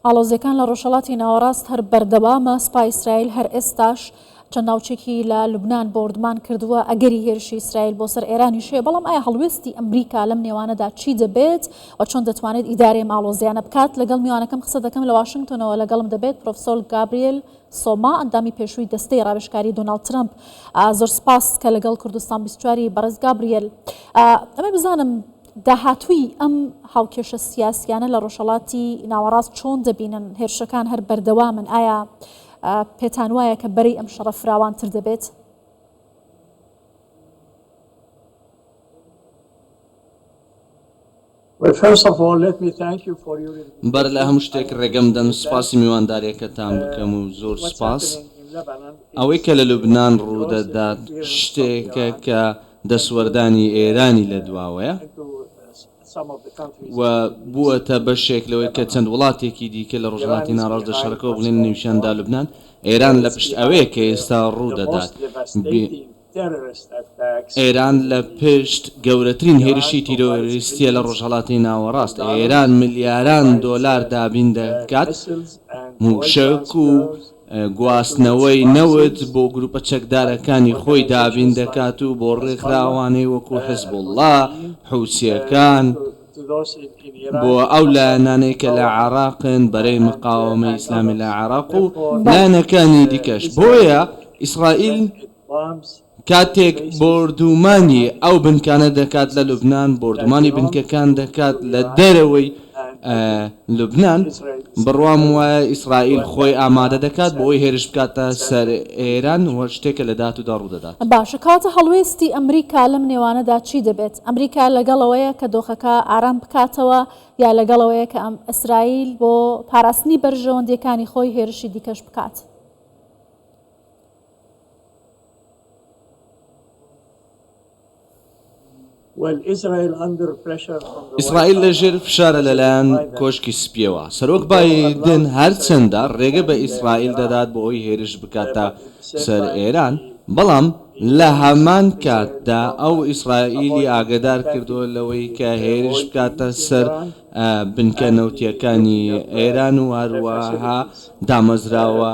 ئاڵۆزیەکان لە ڕۆژهەڵاتی ناوەڕاست هەر بەردەوامە، سوپای ئیسرائیل هەر ئێستاش چەند ناوچێکی لە لوبنان بۆردمان کردووە، ئەگەری هێرشی ئیسرائیل بۆ سەر ئێرانیش هەیە، بەڵام ئایا هەڵوێستی ئەمریکا لەم نێوانەدا چی دەبێت و چۆن دەتوانێت ئیدارەی ئەم ئاڵۆزیانە بکات؟ لەگەڵ میوانەکەم قسە دەکەم، لە واشنگتۆنەوە لەگەڵم دەبێت پرۆفسۆل گابریل سۆما، ئەندامی پێشووی دەستەی ڕاوێژکاری دۆناڵد ترەمپ، زۆر سوپاس کە لەگەڵ کوردستان بیست و چوار ی بەڕێز گابریل ئەمەی بزانم داهاتووی ئەم هاوکێشە سیاسییانە لە ڕۆژهەڵاتی ناوەڕاست چۆن دەبینن؟ هێرشەکان هەر بەردەوامن، ئایا پێتانوایە کە بەرەی ئەم شەڕە فراوانتر دەبێت؟ بەر لە هەموو شتێک ڕێگەم بدەن سوپاسی میوانداریەکەتان بکەم و زۆر سوپاس. ئەوەی کە لە لوبنان ڕوودەدات شتێکە کە دەستوەردانی ئێرانی لە دواوەیە و بووەتە بەشێک لەوەی کە چەند وڵاتێکی دیکە لە ڕۆژهەڵاتی ناڕاست لە شەڕەکەوە بڵێن نەوشیاندا لوبنان ئێران لە پشت ئەوەیە کە ئێستا ڕوو دەدات ئێران لە پشت گەورەترین هێرشی تیرۆریستیە لە ڕۆژهەڵاتی ناوەڕاست ئێران ملیاران دۆلار دابین دەکات موشەک و گواستنەوەی نەوت بۆ گروپە چەکدارەکانی خۆی دابین دەکات و بۆ ڕێکخراوانەی وەکو حزبوڵڵا، حوسییەکان، بۆ ئەو لایەنانەی کە لە عێراقن، بەرەی مقاوەمەی ئیسلامی لە عێراق و لایەنەکانی دیکەش. بۆیە ئیسرائیل. کاتێک بۆردوومانی ئەو بنکانە دەکات لە لوبنان، بۆردوومانی بنکەکان دەکات لە دەرەوەی لوبنان، بڕوام وایە ئیسرائیل خۆی ئامادە دەکات بۆ ئەوەی هێرش بکاتە سەر ئێران و شتێکە لە داهاتوودا ڕوودەدات. باشە کەواتە هەڵوێستی ئەمریکا لەم نێوانەدا چی دەبێت؟ ئەمریکا لەگەڵەوەیە کە دۆخەکە ئارام بکاتەوە یا لەگەڵەوەیە کە ئیسرائیل بۆ پاراستنی بەرژەوەندییەکانی خۆی هێرشی دیکەش بکات؟ ئیسرائیل لەژێر فشارە لەلایەن کۆشکی سپییەوە. سەرۆک بایدن هەرچەندە رێگە بە ئیسرائیل دەدات بۆ ئەوەی هێرش بکاتە سەر ئێران، بەڵام لە هەمان کاتدا ئەو ئیسرائیلی ئاگەدار کردووە لەوەی کە هێرش بکاتە سەر بنکە نەوتییەکانی ئێران و هەروەها دامەزراوە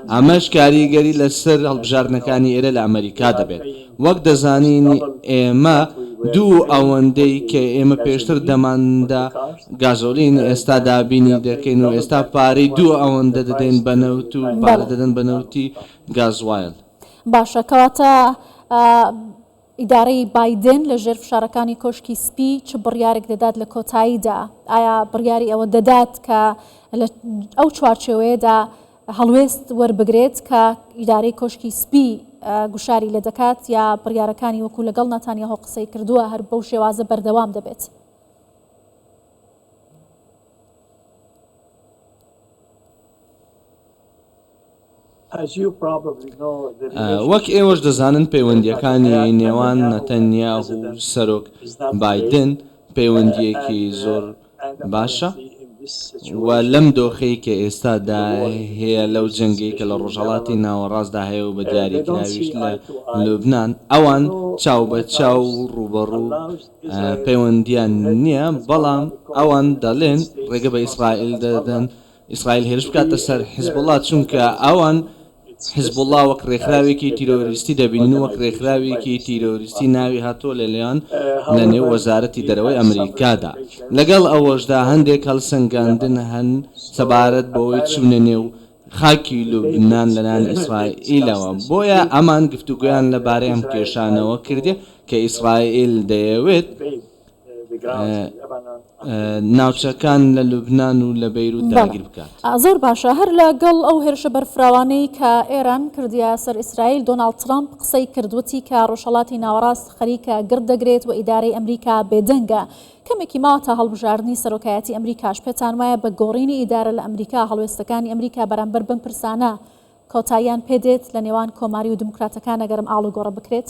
ئەمەش کاریگەری لەسەر هەڵبژاردنەکانی ئێرە لە ئەمەریکا دەبێت. وەک دەزانین ئێمە دوو ئەوەندەی کە ئێمە پێشتر دەماندا گازۆلین ئێستا دابینی دەکەین و ئێستا پارەی دوو ئەوەندە دەدەین بە نەوت و پارە دەدەن بە نەوتی گازوایل. باشە کەواتە ئیدارەی بایدن لە ژێر فشارەکانی کۆشکی سپی چ بڕیارێک دەدات لە کۆتاییدا؟ ئایا بڕیاری ئەوە دەدات کە لە ئەو چوارچێوەیەدا هەڵوێست وەربگرێت کە ئیدارەی کۆشکی سپی گوشاری لێ دەکات یا بڕیارەکانی وەکو لەگەڵ ناتانیاهۆ قسەی کردووە هەر بەو شێوازە بەردەوام دەبێت؟ وەک ئێوەش دەزانن پەیوەندییەکانی نێوان نەتەنیاهو و سەرۆک بایدن پەیوەندییەکی زۆر باشە و لەم دۆخەی کە ئێستادا هەیە لەو جەنگەی کە لە ڕۆژهەڵاتی ناوەڕاستدا هەیە و بە دیاریکراویش لە لوبنان ئەوان چاوبەچاو و ڕووبەڕوو پەیوەندییان نییە بەڵام ئەوان دەڵێن ڕێگە بە ئیسرائیل دەدەن ئیسرائیل هێرش بکاتە سەر حزبوڵا چونکە ئەوان حزبوڵا وەک ڕێکخراوێکی تیرۆریستی دەبینن و وەک ڕێکخراوێکی تیرۆریستی ناوی هاتووە لەلیان لە نێو وەزارەتی دەرەوەی ئەمریکادا لەگەڵ ئەوەشدا هەندێک هەڵسەنگاندن هەن سەبارەت بەوەی چوونە نێو خاکی لوبنان لەلایەن ئیسرائیلەوە بۆیە ئەمان گفتوگۆیان لەبارەی ئەم کێشانەوە کردیە کە ئیسرائیل دەیەوێت ناوچەکان لە لوبنان و لە بەیروت داگیر بکات. زۆر باشە هەر لە گەڵ ئەو هێرشە بەرفراوانەی کە ئێران کردیە سەر ئیسرائیل دۆناڵد ترەمپ قسەی کرد وتی کە ڕۆژهەڵاتی ناوەڕاست خەریکە گڕ دەگرێت و ئیدارەی ئەمریکا بێدەنگە کەمێکی ماوە تا هەڵبژاردنی سەرۆکایەتی ئەمریکاش پێتان وایە بە گۆڕینی ئیدارە لە ئەمریکا هەڵوێستەکانی ئەمریکا بەرامبەر بەم پرسانە کۆتاییان پێدێت لە نێوان کۆماری و دیموکراتەکان ئەگەرم ئاڵوگۆڕە بکرێت؟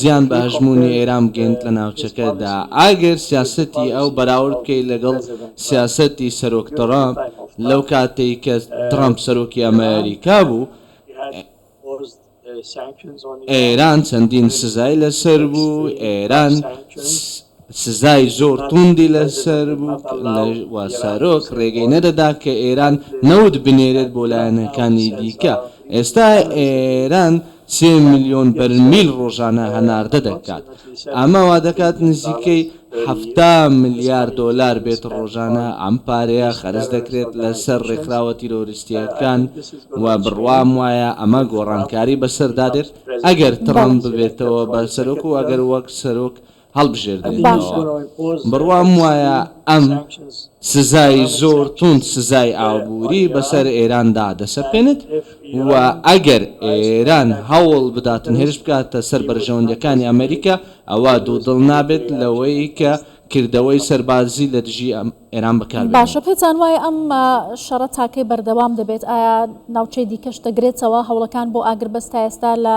زیان بە هەژموونی ئێران بگەیەنێت لە ناوچەکەدا، ئەگەر سیاسەتی ئەو بەراورد بکەیت لەگەڵ سیاسەتی سەرۆک تڕەمپ لەو کاتەی کە تڕەمپ سەرۆکی ئەمەریکا بوو، ئێران چەندین سزای لەسەر بوو، ئێران سزای زۆر توندی لەسەر بوو و سەرۆک ڕێگەی نەدەدا کە ئێران نەوت بنێرێت بۆ لایەنەکانی دیکە، ئێستا ئێران سێ ملیۆن بەرمیل ڕۆژانە هەناردە دەکات، ئەمە وادەکات نزیکەی حەفتا ملیار دۆلار بێت ڕۆژانە، ئەم پارەیە خەرج دەکرێت لەسەر ڕێکخراوە تیرۆریستییەکان و بڕوام وایە ئەمە گۆڕانکاری بەسەردا دێت ئەگەر تڕەمپ ببێتەوە بە سەرۆک و ئەگەر وەک سەرۆک هەڵبژێردرێنەوە، بڕوام وایە ئەم سزای زۆر توند سزای ئابووری بەسەر ئێراندا دەسەپێنێت و ئەگەر ئێران هەوڵ بداتن هێرش بکاتە سەر بەرژەوەندییەکانی ئەمریکا ئەوا دوودڵ نابێت لەوەی کە کردەوەی سەربازی لە دژی ئێران بەکاربێنێت. باشە پێتان وایە ئەم شەڕە تاکەی بەردەوام دەبێت؟ ئایا ناوچەی دیکەش دەگرێتەوە؟ هەوڵەکان بۆ ئاگربەست تا ئێستا لە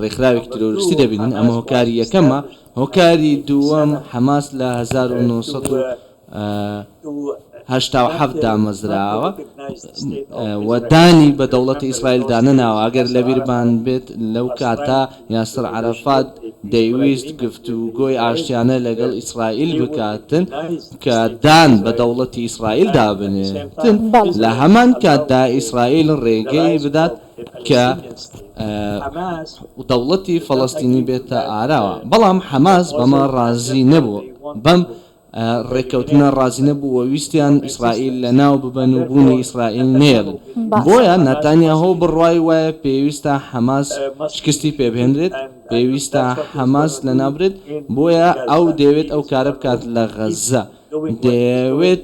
ڕێکخراوێکی تیرۆریستی دەبینن ئەمە هۆکاری یەکەمە هۆکاری دووەم حەماس لە هەزار و نۆ سەد و هەشتا و حەفت دامەزراوە و دانی بە دەوڵەتی ئیسرائیل دانەناوە ئەگەر لەبیربان بێت لەو کاتە یاسر عەرەفات دەیویست گفتوگۆی ئاشتیانە لەگەڵ ئیسرائیل بکاتن کە دان بە دەوڵەتی ئیسرائیل دابنێتن لە هەمان کاتدا ئیسرائیل ڕێگەی بدات کە دەوڵەتی فەڵەستینی بێتە ئاراوە، بەڵام حەماس بەمە ڕازی نەبوو، بەم ڕێککەوتنە ڕازی نەبوو و ویستیان ئیسرائیل لەناو ببەن و بوونی ئیسرائیل نەیەڵن، بۆیە ناتانیاهۆ بڕوای وایە پێویستە حەماس شکستی پێبهێنرێت، پێویستە حەماس لەناوبرێت، بۆیە ئەو دەیەوێت ئەو کارە بکات لە غەززە. دەیەوێت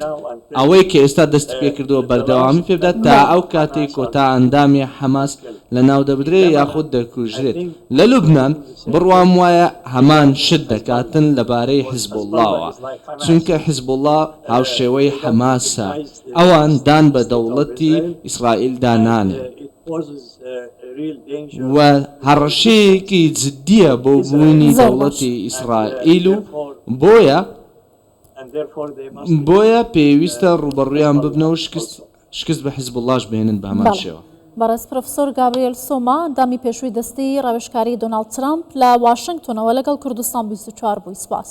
ئەوەی کە ئێستا دەستیپێکردووە بەردەوامی پێبدات تا ئەو کاتەی کۆتا ئەندامی حەماس لەناودەبرێت یاخود دەکوژرێت لە لوبنان، بڕوام وایە هەمان شت دەکاتن لەبارەی حزبوڵڵاوە، چونکە حزبوڵڵا هاوشێوەی حەماسە، ئەوان دان بە دەوڵەتی ئیسرائیلدا نانێن و هەڕەشەیەکی جددییە بۆ بوونی دەوڵەتی ئیسرائیل و بۆیە بۆیە پێویستە ڕووبەڕوویان ببنەوە و شکست بە حیزبوڵڵاش بهێنن بە هەمان شێوە. بەڕێز پرۆفیسۆر گابریێل سۆما، ئەندامی پێشووی دەستەی ڕاوێژکاری دۆناڵد ترەمپ لە واشنگتۆنەوە لەگەڵ کوردستان بیست و چوار بووی. سپاس.